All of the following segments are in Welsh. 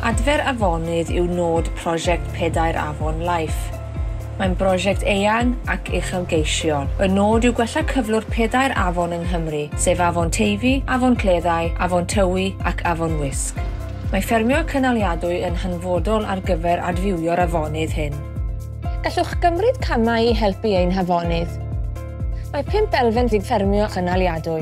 Adfer afonydd yw nod prosiect Pedair Afon Life. Mae'n brosiect eang ac uchelgeisiol. Y nod yw gwella cyflwr pedair afon yng Nghymru, sef Afon Teifi, Afon Cleddau, Afon Tywi ac Afon Wysg. Mae ffermio cynaliadwy yn hanfodol ar gyfer adfywio'r afonydd hyn. Gallwch gymryd camau i helpu ein hafonydd. Mae pump elfen i ffermio cynaliadwy.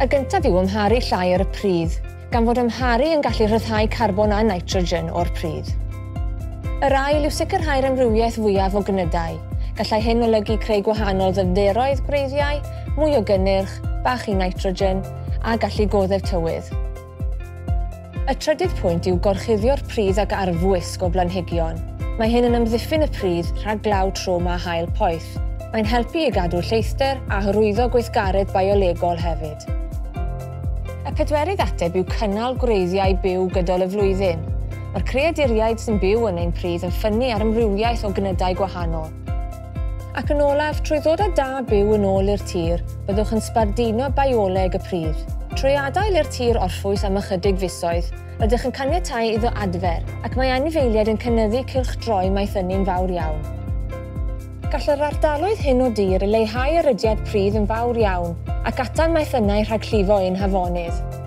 Y gyntaf yw amharu llai ar y pridd, gan fod amharu yn gallu rhyddhau carbon a nitrogen o'r pridd. Yr ail yw sicrhau'r amrywiaeth fwyaf o gnydau. Gallai hyn olygu creu gwahanol ddyfnderoedd gwreiddiau, mwy o gynnyrch, bach i nitrogen, a gallu goddef tywydd. Y trydydd pwynt yw gorchuddio'r pridd ag arfwisg o blanhigion. Mae hyn yn amddiffyn y pridd rhag glaw trwm a haul poeth. Mae'n helpu i gadw lleithder a hyrwyddo gweithgaredd biolegol hefyd. Y pedwerydd ateb yw cynnal gwreiddiau byw gydol y flwyddyn. Mae'r creaduriaid sy'n byw yn ein pridd yn ffynnu ar amrywiaeth o gnydau gwahanol. Ac yn olaf, trwy ddod â da byw yn ôl i'r tir, byddwch yn sbarduno bioleg y pridd. Trwy adael i'r tir orffwys am ychydig fisoedd, rydych yn caniatáu iddo adfer, ac mae anifeiliaid yn cynyddu cylchdroi maeth ynni'n fawr iawn. Gall yr ardaloedd hyn o dir leihau erydiad pridd yn fawr iawn ac atal maeth ynnau rhag llifo ein hafonydd.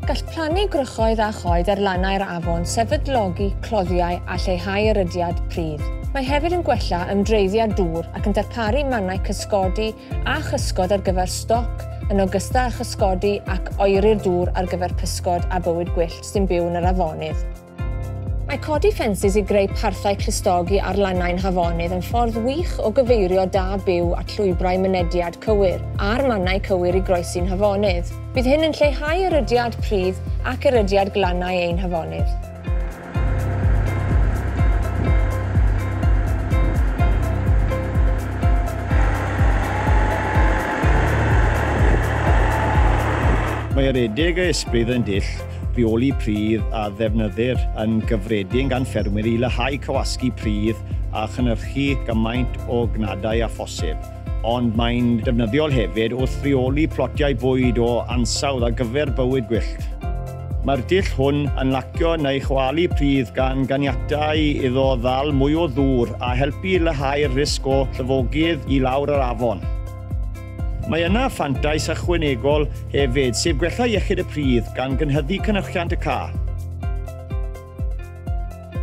Gall plannu gwrychoedd a choed ar lannau'r afon sefydlogi cloddiau a lleihau erydiad pridd. Mae hefyd yn gwella ymdreiddiad dŵr ac yn darparu mannau cysgodi a chysgod ar gyfer stoc, yn ogystal â chysgodi ac oeri'r dŵr ar gyfer pysgod a bywyd gwyllt sy'n byw yn yr afonydd. Mae codi ffensys i greu parthau clustogi ar lannau'n hafonydd yn ffordd wych o gyfeirio da byw at lwybrau mynediad cywir a'r mannau cywir i groesi'n hafonydd. Bydd hyn yn lleihau erydiad pridd ac erydiad glannau ein hafonydd. Mae yr adegau ysbryd yn dull rheoli pridd a ddefnyddir yn gyffredin gan ffermwyr i leihau cywasgu pridd a chynhyrchu gymaint o gnadau â phosib, ond mae'n defnyddiol hefyd wrth reoli plotiau bwyd o ansawdd ar gyfer bywyd gwyllt. Mae'r dull hwn yn lacio neu chwalu pridd gan ganiatáu iddo ddal mwy o ddŵr a helpu i leihau'r risg o llifogydd i lawr yr afon. Mae yna fantais ychwanegol hefyd, sef gwella iechyd y pridd, gan gynhyddu cynyrchiant y cath.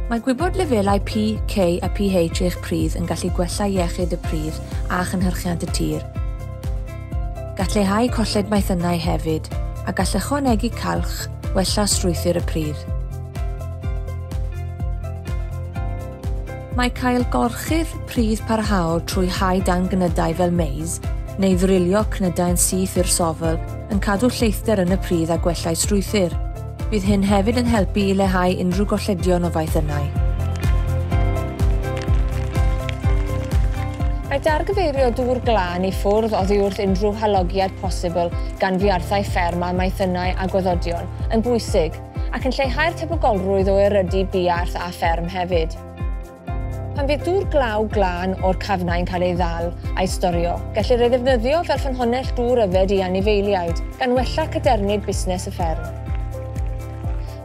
Mae gwybod lefelau PK a PH eich pridd yn gallu gwella iechyd y pridd a chynhyrchiant y tir. Gall leihau colled maethynnau hefyd, a gall ychwanegu calch wella strwythur y pridd. Mae cael gorchudd pridd parhaol trwy hau dan gnydau fel maize, neu ddrilio cnydau yn syth i'r sofl, yn cadw lleithder yn y pridd a gwellai strwythur. Bydd hyn hefyd yn helpu i leihau unrhyw golledion o faethynnau. Mae dargyfeirio dŵr glân i ffwrdd oddi wrth unrhyw halogiad posibl gan fiarthau fferm a maethynnau a gwaddodion yn bwysig. ac yn lleihau'r tebygolrwydd o erydu buarth a fferm hefyd. Pan fydd dŵr glaw glân o'r cafnau yn cael ei ddal a'i storio, gellir ei ddefnyddio fel ffynhonnell dŵr yfed i anifeiliaid, gan wella cadernid busnes y fferm.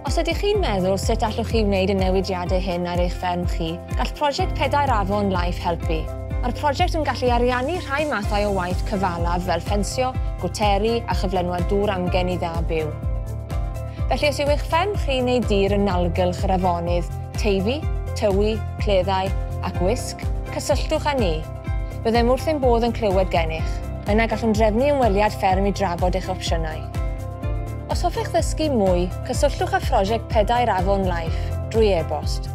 Os ydych chi'n meddwl sut allwch chi wneud y newidiadau hyn ar eich fferm chi, gall prosiect Pedair Afon Life helpu. Mae'r prosiect yn gallu ariannu rhai mathau o waith cyfalaf fel ffensio, gwteri a chyflenwad dŵr amgen i dda byw. Felly os yw eich fferm chi neu dir yn nalgylch yr afonydd, Teifi, Tywi, Cleddau ac Wysg, cysylltwch â ni. Byddem wrth ein bodd yn clywed gennych. Yna gallwn drefnu ymweliad fferm i drafod eich opsiynau. Os hoffech ddysgu mwy, cysylltwch â Phrosiect Pedair Afon Life drwy e-bost.